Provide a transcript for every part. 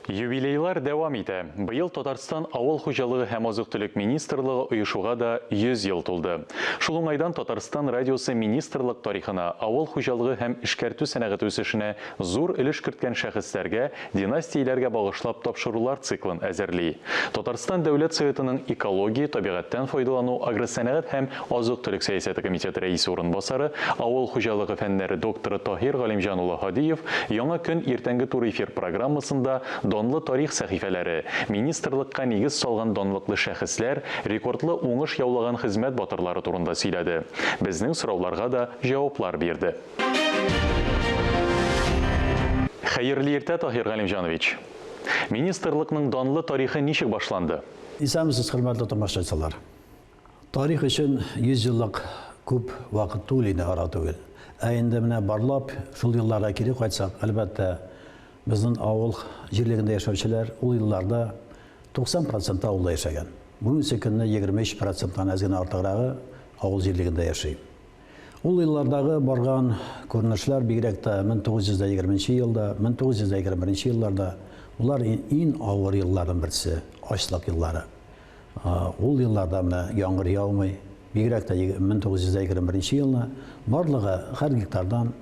Юбилейлар дәвам итә. Быел Татарстан Авыл хуҗалыгы һәм азык-төлек министрлыгы оешуга да 100 ел тулды. Шул уңайдан Татарстан радиосы министрлык тарихына, авыл хуҗалыгы һәм эшкәртү сәнәгате үсешенә зур өлеш керткән шәхесләргә, династияләргә багышлап тапшырулар циклын әзерли. Татарстан Дәүләт Советының Экология, табигатьтән файдалану, агросәнәгать һәм Азык-төлек сәясәте комитеты рәисе урынбасары, авыл хуҗалыгы фәннәре докторы Таһир Галимҗан улы Һадиев Яңа көн иртәнге туры эфир программасында данлы тарих сәхифәләре, министрлыкка нигез салган данлыклы шәхесләр, рекордлы уңыш яулаган хезмәт батырлары турында сөйләде. Безнең сорауларга да җаваплар бирде. Хәерле иртә, Таһир Галимҗанович! Министрлыкның данлы тарихы ничек башланды? Исәнмесез, хөрмәтле томашачылар! Тарих өчен 100 еллык күп вакыт түгел инде, ара түгел. Ә инде менә барлап, шул елларга кире кайтсак, әлбәттә, безнең авыл җирлегендә яшәүчеләр ул елларда 90 проценты авылда яшәгән. Бүгенге көнне 23 проценттан әз генә артыграгы авыл җирлегендә яши. Ул еллардагы барган күренешләр, бигрәк тә 1920 нче елда, 1921 нче елларда, болар ин авыр елларның берсе, ачлык еллары. Ул елларда менә яңгыр яумый, бигрәк тә 1921 елны барлыгы һәр гектардан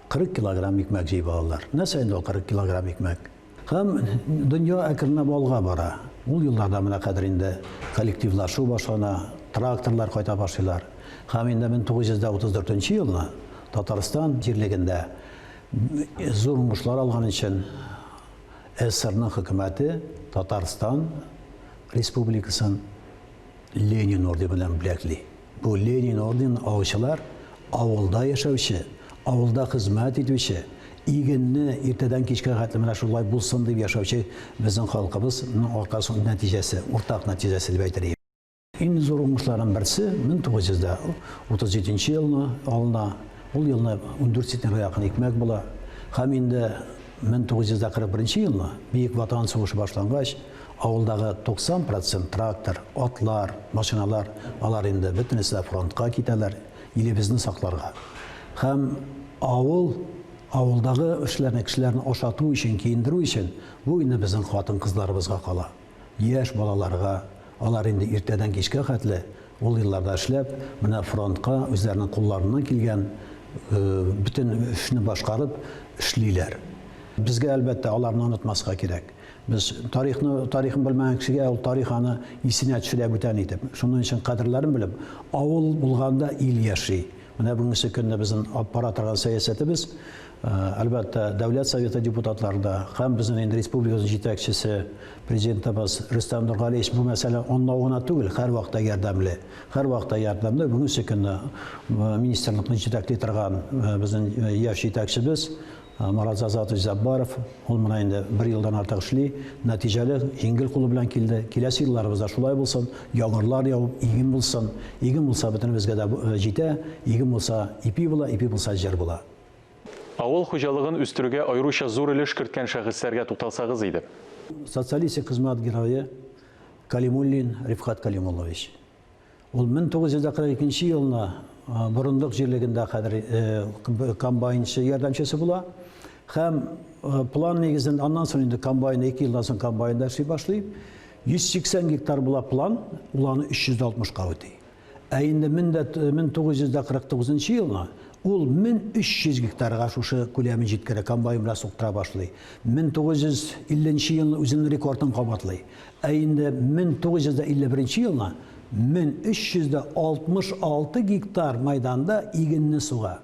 40 килограмм икмәк җыеп алалар. Нәрсә инде ул 40 килограмм икмәк? Һәм дөнья әкренләп алга бара. Ул елларда менә хәзер инде коллективлашу башлана, тракторлар кайта башлыйлар. Һәм инде 1934 елны Татарстан җирлегендә зур уңышлар алган өчен СССРның хөкүмәте Татарстан Республикасын Ленин ордены белән бүләкли. Бу Ленин орденын алучылар авылда яшәүче, авылда хезмәт итүче, игенне иртәдән кичкә хәтле менә шулай булсын дип яшәүче безнең халкыбыз нәтиҗәсе, уртак нәтиҗәсе дип әйтер идем. Иң зур уңышларның берсе 1937 нче елны алына. Ул елны 14 центнерга якын икмәк була. Һәм инде 1941 нче елны, Бөек Ватан сугышы башлангач, авылдагы 90 процент трактор, атлар, машиналар, алар инде бөтенесе дә фронтка китәләр, илебезне сакларга. Һәм авыл, авылдагы эшләрне, кешеләрне ашату өчен, киендерү өчен, бу инде безнең хатын-кызларыбызга кала. Яшь балаларга, алар инде иртәдән кичкә хәтле ул елларда эшләп, менә фронтка үзләренең кулларыннан килгән бөтен эшне башкарып эшлиләр. Безгә, әлбәттә, аларны онытмаска кирәк. Без тарихны, тарихын белмәгән кешегә ул тарих аны исенә төшерә бүтән итеп. Шуның өчен кадерләрен белеп, авыл булганда ил яши. Менә бүгенге көнне безнең алып бара торган сәясәтебез, Әлбәттә, Дәүләт Советы депутатлары да һәм безнең инде республикабыз җитәкчесе, президентыбыз Рөстәм Нургалиевич бу мәсьәлә анлау гына түгел, һәр вакытта ярдәмле. Һәр вакытта ярдәмле. Бүгенге көнне министрлыкны җитәкли торган безнең яшь җитәкчебез Марат Зазатович Заббаров, ул менә инде бер елдан артык эшли, нәтиҗәле, җиңел кулы белән килде. Киләсе елларыбыз да шулай булсын, яңгырлар явып, иген булсын. Иген булса, бөтенебезгә дә җитә, иген булса, ипи була, ипи булса, җыр була. Авыл хуҗалыгын үстерүгә аеруча зур өлеш керткән шәхесләргә тукталсагыз иде? Социалистик хезмәт герое Калимуллин Рифкать Калимуллович. Ул 1942 нче елны Борындык җирлегендә хәзер комбайнчы ярдәмчесе була һәм план нигезен, аннан соң инде комбайн, ике елдан соң комбайнда эшли башлый. 180 гектар була план, ул аны 360 ка үти. Ә инде 1949 нчы елга ул 1300 гектарга шушы күләмен җиткерә, комбайн белән суктыра башлый. 1950 нче елны үзенең рекордын кабатлый. Ә инде 1951 нче елга 1366 гектар мәйданда игенне суга.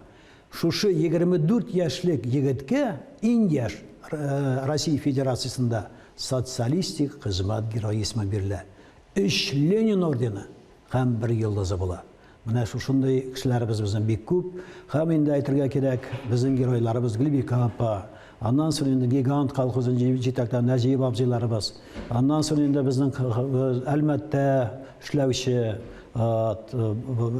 Шушы 24 яшьлек егеткә, иң яшь Россия Федерациясендә Социалистик хезмәт герое исеме бирелә. өч Ленин ордены һәм бер Йолдызы була. Менә шушындый кешеләребез безнең бик күп. Һәм инде әйтергә кирәк, безнең геройларыбыз Гөлбикә апа, аннан соң инде Гигант колхозын җитәкләгән Нәҗиев абзыйларыбыз, аннан соң инде безнең Әлмәттә эшләүче,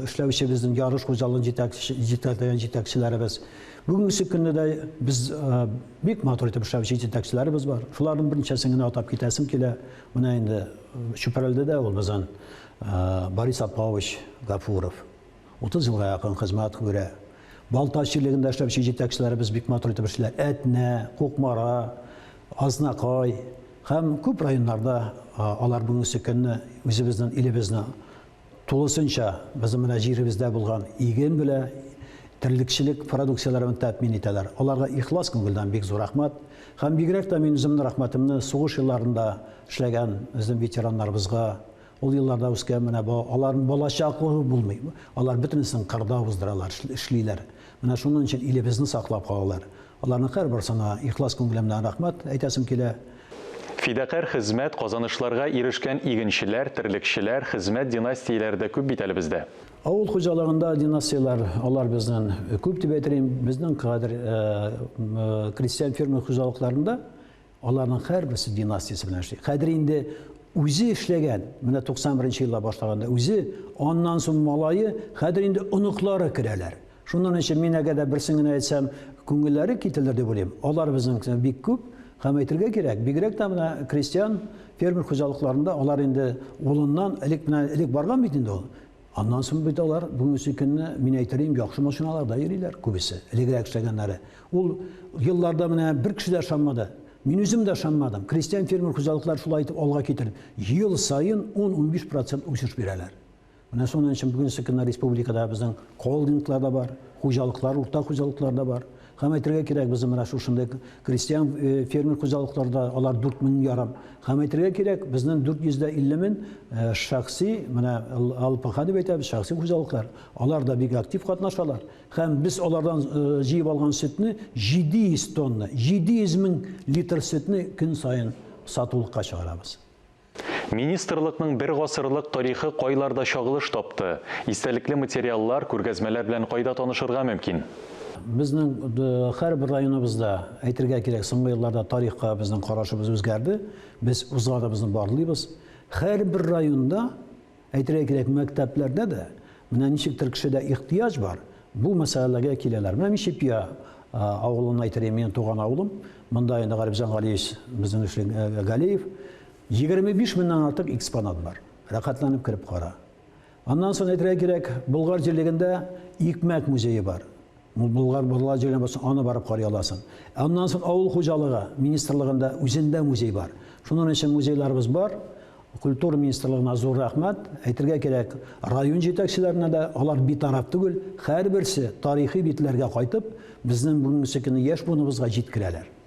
эшләүче безнең ярыш хуҗалыгын җитәкләгән җитәкчеләребез. Бүгенге көнне дә без бик матур итеп эшләүче җитәкчеләребез бар. Шуларның берничәсен генә атап китәсем килә. Менә инде Чүпрәлдә дә ул безнең Борис Апаович Гафуров. 30 елга якын хезмәт күрә. Балтач җирлегендә эшләүче җитәкчеләребез бик матур итеп эшли. Әтнә, Кукмара, Азнакай һәм күп районнарда алар бүгенге көнне үзебезнең илебезне Тулысынча безнең менә җиребездә булган иген белә терлекчелек продукцияләрен тәэмин итәләр. Аларга ихлас күңелдән бик зур рәхмәт. Һәм бигрәк тә мин үземнең рәхмәтемне сугыш елларында эшләгән безнең ветераннарыбызга, ул елларда үскән менә бу аларның балачаклыгы булмый. Алар бөтенесен кырда уздыралар, эшлиләр. Менә шуның өчен илебезне саклап калалар. Аларның һәрбарсына ихлас күңелем белән рәхмәт әйтәсем килә. Фидакарь хезмәт, казанышларга ирешкән игенчеләр, терлекчеләр, хезмәт династияләре дә күп бит әле бездә. Авыл хуҗалыгында династияләр, алар безнен күп дип әйтер идем. Безнең кадәр крестьян-фермер хуҗалыкларында. Аларның һәрберсе династиясе белән эшли. Хәзер инде үзе эшләгән, менә 91 нче елда башлаганда үзе, аннан соң малае, хәзер инде оныклары керәләр. Шуннан өчен мин әгәр дә берсен генә әйтсәм, күңелләре кителер дип уйлыйм. Алар безнең бик күп һәм әйтергә кирәк, бигрәк тә менә крестьян, фермер хуҗалыкларында алар инде улыннан, элек менә элек барган бит инде ул. Аннан соң бит алар бүгенге көнне, мин әйтер идем, яхшы машиналарда йөриләр күбесе, элегрәк эшләгәннәре. Ул елларда менә бер кеше дә ышанмады. Мин үзем дә ышанмадым. Крестьян-фермер хуҗалыклары шулай итеп алга китереп, ел саен 10-15 процент үсеш бирәләр. Менә шуның өчен бүгенге көнне республикада безнең холдинглар да бар, хуҗалыклар, урта хуҗалыклар да бар. Һәм әйтергә кирәк, безнең менә шушындый крестьян э, фермер хуҗалыкларда алар 4 мең ярым. Һәм әйтергә кирәк, безнең 450 мең э, шәхси, менә ЛПХ дип әйтәбез, шәхси хуҗалыклар, алар да бик актив катнашалар. Һәм без алардан э, җыеп алган сөтне 700 тонна, 700 мең литр сөтне көн саен сатулыкка чыгарабыз. Министрлыкның бер гасырлык тарихы кайларда чагылыш тапты? Истәлекле материаллар, күргәзмәләр белән кайда танышырга мөмкин? Безнең һәрбер районыбызда, әйтергә кирәк, соңгы елларда тарихка безнең карашыбыз үзгәрде. Без узганыбызны барлыйбыз. Һәрбер районда Әйтергә кирәк, мәктәпләрдә дә менә ничектер кешедә ихтыяҗ бар, бу мәсьәләләргә киләләр. Менә мин Чепья авылыннан әйтер, минем туган авылым. Монда инде Гарипҗан Галиевич, безнең эшлек Галиев. 25 меңнән артык экспонат бар. Рәхәтләнеп кереп кара. Аннан соң әйтергә кирәк, Болгар җирлегендә икмәк музее бар. Бу Болгар бурлар җиренә барсаң, аны барып карый аласың. Ә аннан соң авыл хуҗалыгы министрлыгында үзендә музей бар. Шунын өчен музейларыбыз бар. Культура министрлыгына зур рәхмәт. Әйтергә кирәк, район җитәкчеләренә дә, алар битараф түгел, һәрберсе тарихи битләргә кайтып, безнең бүгенгесе көнне яшь буыныбызга җиткерәләр.